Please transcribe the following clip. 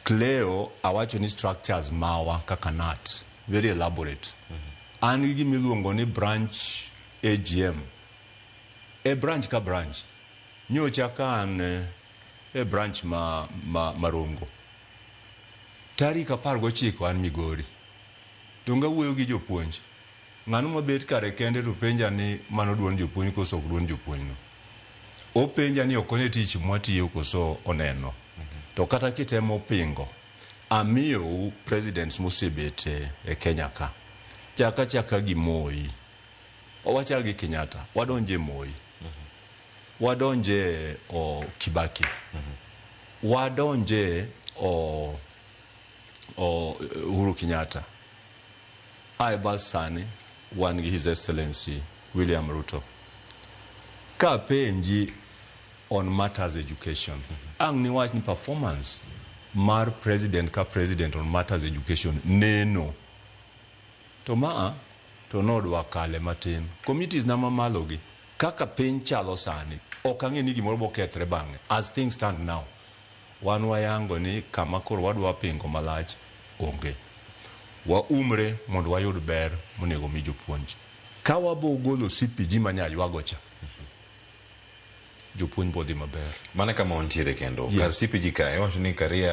Cleo awacho ni structures mawa kaka nat very elaborate. An gi gima iluongo ni branch AGM. E branch ka branch. Nyocha ka an eh, e branch ma, ma, ma Rongo. Tarik apar gochiko an Migori. Donge awuoyo gi jopuonj. Ng'ano mabet kare kende to penja ni mano duond jopuonj koso ok duond jopuonj no. Openja ni ok one tich mwatiyo koso oneno. To kata kitemo pingo, amiyou presidents mosebet e Kenya ka. Chak achaka gi Moi. Wachak gi Kenyatta. Wadonj e Moi. Wadonj e Kibaki. Wadonj e Uhuru Kenyatta. Aye bas sani wan gi His Excellency William Ruto. Ka apenji on matters education, ang' niwach ni performance mar president ka president on matters education neno. To maa to nodwa kale matin. Committees na mamalo gi, kaka piny chalo sani, ok ang'e ni gimoro bokethre bang'e as things stand now. Wan wayango ni kama koro wadwa pingo malach onge. Waumre mondo wayud ber monego omi jopuonj. Ka wabo golo CPG manya ywago cha, jopuonj bo dhi maber. Mana kama wantiere kendo. Yes. Kar CPG kae, iwacho ni Karia